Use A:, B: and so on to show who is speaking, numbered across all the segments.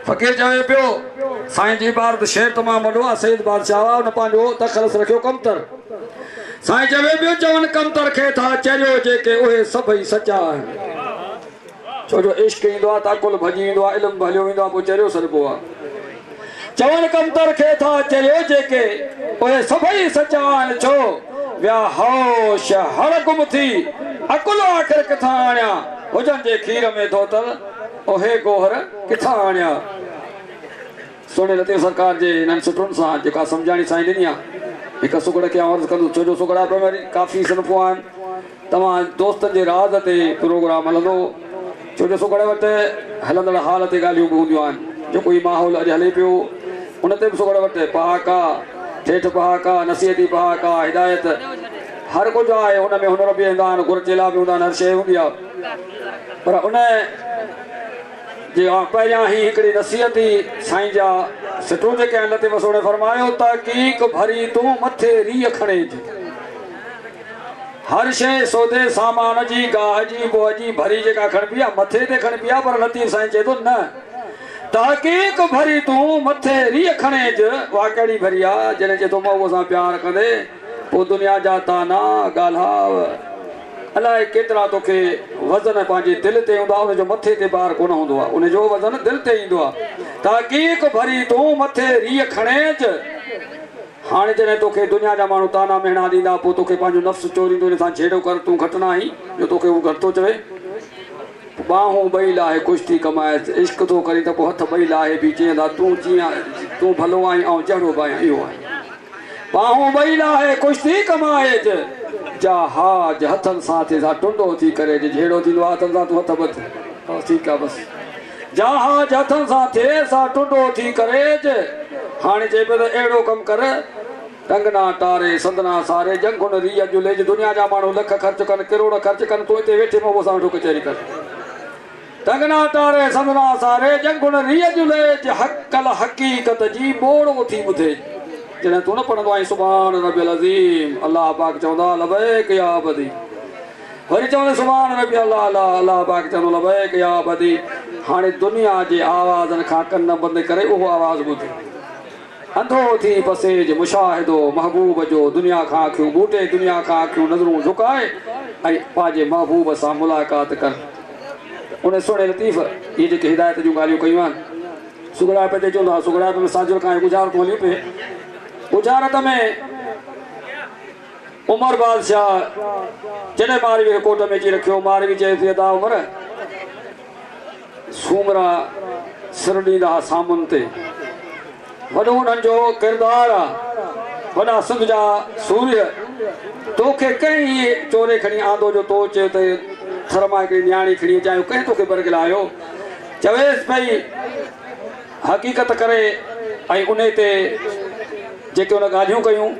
A: فقير چوي پيو، سائين جي ٻار ته شعر تمام وڏو آ، سيد بادشاهه آ، ان پنهنجو تخلص رکيو ڪمتر. سائين چوي پيو، چون ڪمتر کي ٿا چريو، جيڪي اهي سڀئي سچا آهن. ڇو جو عشق ايندو آ ته عقل ڀڄي ويندو آ، علم به هليو ويندو آ، پوء چريو سڏبو آ. چون ڪمتر کي ٿا چريو، جيڪي اهي سڀئي سچا آهن. ڇو ويا هوش هڙ گم ٿي، عقل آخر ڪٿان آڻيان، هجن جي کير ۾ ڌوتل. اهي گوهر ڪٿان آڻيا؟ سهڻي لطيف سرڪار جي انهن سٽرن سان جيڪا سمجهاڻي سائين ڏني آ، هڪ سگهڙ کي آئون عرض ڪندس، ڇو جو سگهڙا پڻ وري ڪافي صنفون آهن. توهان دوستن جي راز تي پروگرام هلندو، ڇو جو سگهڙ وٽ هلندڙ حال تي ڳالهيون به هونديون آهن. جيڪو هي ماحول اڄ هلي پيو، ان تي به سگهڙ وٽ پهاڪا، ٺيٺ پهاڪا، نصيحتي پهاڪا، هدايت، هر ڪجهه آهي. ان ۾ هنر به هندا آهن، گهر چيلا به هوندا آهن، هر شيء هوندي آ. پر ان جي پهريان هي هڪڙي نصيحت ئي سائين جا سٽون جيڪي آهن لطيف سهڻي فرمايو تحقيق ڀري تون مٿي ريء کڻي جي هر شيء سودي سامان جي گاهه جي بوء جي ڀري جيڪا کڻبي آهي مٿي تي کڻبي آهي پر لطيف سائين چئي ٿو نه تحقيق ڀري تون مٿي ريء کڻي جي واهه ڪهڙي ڀري آهي جڏهن چئي ٿو مئو سان پيار ڪندي پوء دنيا جا تانا ڳالهاء الاء ڪيترا تو کي وزن پنهنجي دل تي هوندا ان جو مٿي تي بار ڪونه هوندو آ ان جو وزن دل تي ايندو آ تحقيق ڀري تون مٿي ريء کڻيج هاڻي جڏهن تو کي دنيا جا ماڻهو طعنا مهڻا ڏيندا پو تو کي پنهنجو نفس چوريندو ان سان جهيڙو ڪر تون گهٽ نه آهين جو تو کي هو گهٽ ٿو چوي ٻانهون ٻئي لاهي خوش ٿي ڪمائيس عشق ٿو ڪرين ته پو هٿ ٻئي لاهي بي چئين ٿا تون جيئن تون ڀلو آهين آئون جهڙو به آهيان اهو آهيان. ٻانهون ٻئي لاهي ڪشتي ڪمائج، جا حاج هٿن سان ٿي سا ٽنڊو ٿي ڪري جي جهيڙو ٿيندو آهي هٿن سان تون هٿ ٻڌ بس ٺيڪ آهي بس جا حاج هٿن سان ٿي سا ٽنڊو ٿي ڪريج هاڻي چئي پيو ته اهڙو ڪم ڪر ٽنگنا ٽاري سندنا ساري جنگهن ري اڄ ليج دنيا جا ماڻهو لک خرچ ڪن ڪروڙ خرچ ڪن تون هتي ويٺي مئو سان ويٺو ڪچهري ڪر تگنا تاري سندنا ساري جڳ گڻ ريء جون ليج حق الحقيقت جي ٻوڙ اٿي ٻڌي جڏهن تون نه پڙهندو آهين سبحان ربي العظيم الله پاڪ چوندو آهي لبيڪ يا عبدي وري چوندو سبحان ربي الله الا الله پاڪ چوندو لبيڪ يا عبدي هاڻي دنيا جي آوازن کان ڪن بند ڪري اهو آواز ٻڌ انڌو ٿي پسيج مشاهدو محبوب جو دنيا کان اکيون ٻوٽي دنيا کان اکيون نظرون جهڪائي ۽ پنهنجي محبوب سان ملاقات ڪر ته ان سهڻي لطيف اهي جيڪي هدايت جون ڳالهيون ڪيون آهن سگهڙائپ تي چون ٿا سگهڙائپ ۾ ساجهر کان اهي ڳجهارتون هليون پي ڳجهارت ۾ عمر بادشاهه جڏهن ماروي کي ڪوٽ ۾ اچي رکيو ماروي چيس ٿي ادا عمر سومرا سر ڏيندا اسامن تي وڏو انهن جو ڪردار آ وڏا سنڌ جا سورهيه توکي ڪنهن هي چوري کڻي آندو جو تو چئي ته ٿر مان هڪڙي نياڻي کڻي اچان اهو ڪنهن توکي برغلايو چويس پئي حقيقت ڪري ۽ انهي تي جيڪي ان ڳالهيون ڪيون.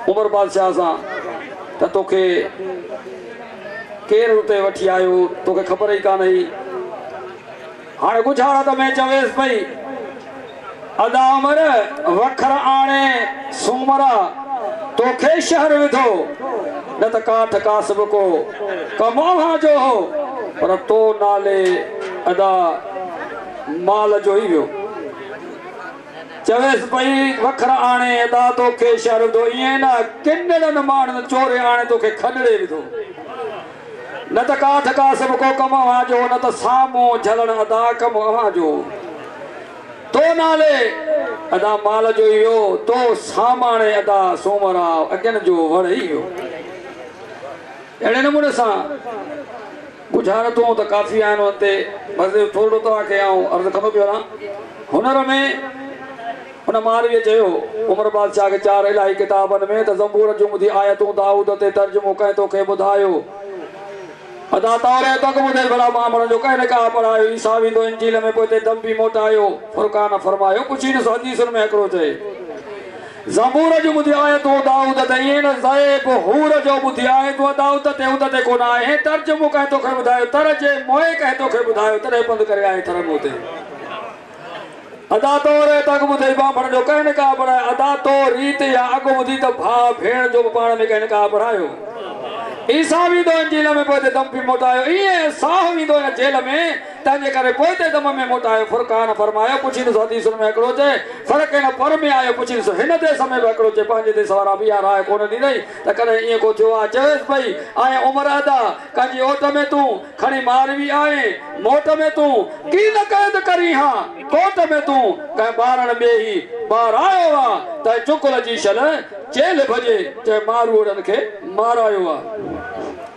A: عمر بادشاهه سان ته توکي ڪير اتي وٺي آيو، توکي خبر ئي ڪانه هئي. هاڻ ڳجهاڙا ته ۾ چويس پئي، ادا عمر وکر آڻي سومرا توکي شهر وڌو، نه ته ڪاٺ ڪاسب ڪو ڪم اوهان جو هو، پر تو نالي ادا مال جو ئي ويو. چويس پئي، وکر آڻي ادا توکي شهر وڌو، ائين نه ڪنڙن ماڻهن چوري آڻي توکي کڏڙي وڌو. نه ته ڪاٺ ڪاسب ڪو ڪم اوهان جو، نه ته سامون جهلڻ ادا ڪم اوهان جو. تو نالي ادا مال جو ئي ويو، تو ساماڻي ادا سومرا اڳين جو وڙهي ويو. اهڙي نموني سان. ڳجهارتون ته ڪافي آهن انهن تي بس جو ٿورڙو توهان کي آئون عرض ڪندو پيو رهان. هنر ۾ ان مارويء چيو هو، عمر بادشاهه کي چار الاهي ڪتابن ۾ ته زبور جون ٻڌي آيتون دائود تي ترجمو ڪنهن تو کي ٻڌايو؟ ادا توريت اڳ ٻڌي ڀلا ٻانڀڻ جو ڪنهن نڪاح پڙهايو؟ عيسيٰ ويندو انجيل ۾ پوء تي دم به موٽايو. فرقان فرمايو ڪڇي ڏس حديثن ۾ هڪڙو چئي. زبور جون ٻڌي آيتون دائود تي ائين نه زيب حور جو ٻڌي آيتون دائود تي ات تي ڪونه آهين ترجمو ڪنهن توکي ٻڌايو تر جي موئي ڪنهن توکي ٻڌايو تڏهن پنڌ ڪري آئين ٿر مون تي ادا تو ري ته اڳ ٻڌي ٻانڀڻ جو ڪنهن نڪاح پڙهايو ادا تو ريت يا اڳ ٻڌي ته ڀاء ڀيڻ جو به پاڻ ۾ ڪنهن نڪاح پڙهايو عيسيٰ ويندو انجيل ۾ پوء تي دم پي موٽايو ائين ساهه ويندو هن جيل ۾ تنهنجي ڪري پوئتي دم ۾ موٽايو فرقان فرمايو پڇينس حديثن ۾ هڪڙو چئي فرق هن پر ۾ آيو پڇينس هن ديس ۾ به هڪڙو چئي پنهنجي ديس وارا به اها راء ڪونه ڏنئي ته ڪڏهن ايئن ڪو ٿيو آهي چويس پئي آئين عمر ادا ڪن جي اوٽ ۾ تون کڻي مار وي آئين موٽ ۾ تون ڪي نه قيد ڪرين ها ڪوٽ ۾ تون ڪنهن ٻارڻ ٻئي هي ٻار آيو آ تنهن چڪل جي شل چيلهه ڀڄي چئي ماروئڙن کي مارايو آ.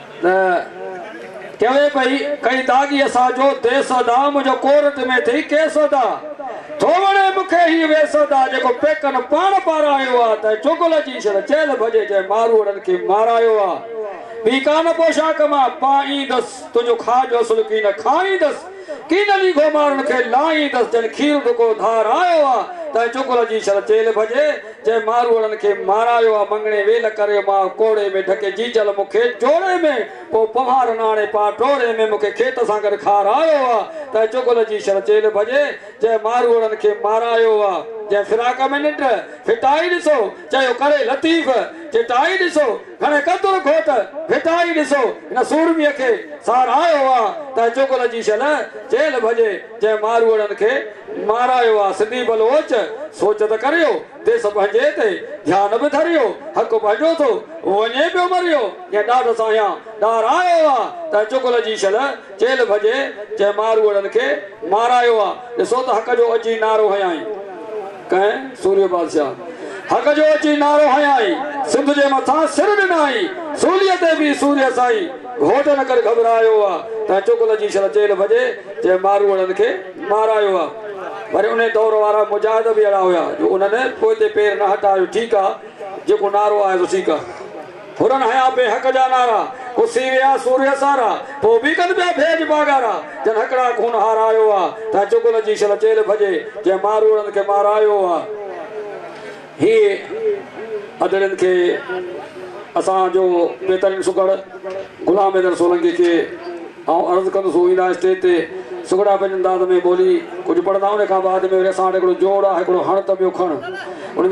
A: نه چوي پئي ڪئي داغي اسان جو ديس ادا منهنجو ڪورٽ ۾ ٿئي ڪيس ادا ٿو وڻي مون کي هي ويس ادا جيڪو پيڪن پاڻ پارايو آ ته چغل جي شل چيل ڀڄي جنهن ماروئڙن کي مارايو آ ٻي ڪا نه پوشاڪ مان پائيندس تنهنجو کاء جو اصل ڪي نه کائيندس ڪي نه ليگهو مارن کي لائيندس جنهن کير ڍڪو ڌارايو آ تنهن چغل جي شل چيل ڀڄي جنهن ماروئڙن کي مارايو آ مڱڻي ويل ڪري مان ڪوڙي ۾ ڍڪي جيجل مون کي جوڙي ۾ پو پنهارن آڻي پا ٽوڙي ۾ مون کي کيت سان گڏ کارايو آ ته چغل جي شھر چيلھ ڀڄي جنهن ماروئڙن کي مارايو آ جنهن فراق ۾ ننڊ ڦٽائي ڏسو چيو ڪري لطيف جٽائي ڏسو گهڻي قدر کؤ ته ڦٽائي ڏسو هن سورميء کي سار آيو آ ته چغل جي شل چيل ڀڄي جنهن ماروئڙن کي مارايو آ سنڌي بلوچ سوچ ته ڪريو ديس پنهنجي تي ڌيان به ڌريو حق پنهنجو ٿو وڃي پيو مريو جنهن ڏاڍ سان اها ڏار آيو آ ته چغل جي شل چيل ڀڄي جنهن ماروئڙن کي مارايو آ ڏسو ته حق جو اچي نعرو هنيائين. ڪنهن سوريء بادشاهه حق جو اچي نعرو هنيائين، سنڌ جي مٿان سر ڏنائين، سوليء تي بيهه سوريء سائين، گهوٽ نه ڪر گهٻرايو آ، تنهن چغل جي شل چيل ڀڄي، جنهن ماروئڙن کي مارايو آ. وري انهيء دور وارا مجاهد به اهڙا هيا، جو انهن پوئتي پير نه هٽايو، ٺيڪ آ، جيڪو نعرو آيو سو ٺيڪ آ. ڦرن هنيا بي حق جا نعرا، پسي ويا سوريء سارا، پوء به ڪن پيا ڀيڄ باگارا، جن هڪڙا خون هارايو آ، تنهن چغل جي شل چيلهه ڀڄي، جنهن ماروئڙن کي مارايو آ. هيء ادڙين کي اسان جو بهترين سگهڙ غلام حيدر سولنگي کي آئون عرض ڪندس هو ايندا اسٽيج تي سگهڙا پنهنجي انداز ۾ ٻولي ڪجهه پڙهندا ان کان بعد ۾ وري اسان وٽ هڪڙو جوڙ آ هڪڙو هڻ ته ٻيو کڻ ان جا